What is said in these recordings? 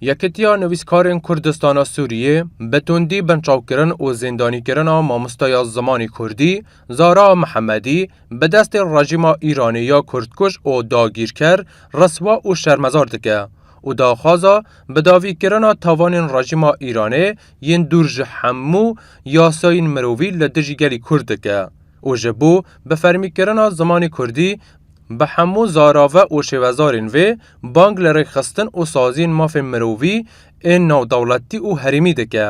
Yekîtiya Nivîskarên Kurdistana Sûriyê bi tundî binçavkirin û zîndanîkirina mamosteya zimanê Kurdî Zara Mihemedî bi destê rejîma Îranê ya kurdkuj û dagîrker riswa û şermezar dike û daxwaza bidavîkirina tavanên rejîma Îranê yên dûr ji hemû yasayên mirovî li dijî gelê Kurd dike. û ji bo bifermîkirina zimanê kurdî bi hemû zarave û şêwezarên vê, bang li rêkxistin û saziyên mafên mirovî ên navdewletî û herêmî dike.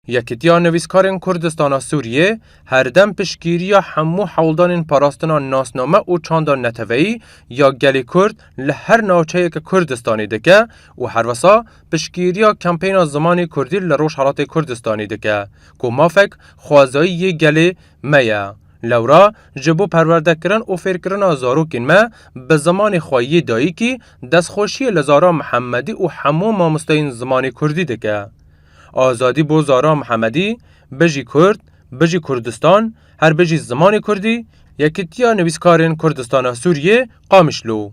Yekîtiya Nivîskarên Kurdistana Sûriyê herdem piştgîriya hemû hewldanên parastina nasname û çanda neteweyî ya gelê Kurd li her navçeyeke Kurdistanê dike û herwisa piştgîriya kampeyna zimanê kurdî li Rojhelatê Kurdistanê dike ku mafek xwezayî yê gelê me ye. Lewra ji bo perwerdekirin û fêrkirina zarokên me bi zimanê xwe yê dayîkî destxweşiyê li Zahra Mihemedî û hemû mamosteyên zimanê kurdî dike. Azadî bo Zahra Mihemedî, Bijî Kurd, Bijî Kurdistan, Her bijî zimanê kurdî, Yekîtiya Nivîskarên Kurdistana Sûriyê, Qamişlo.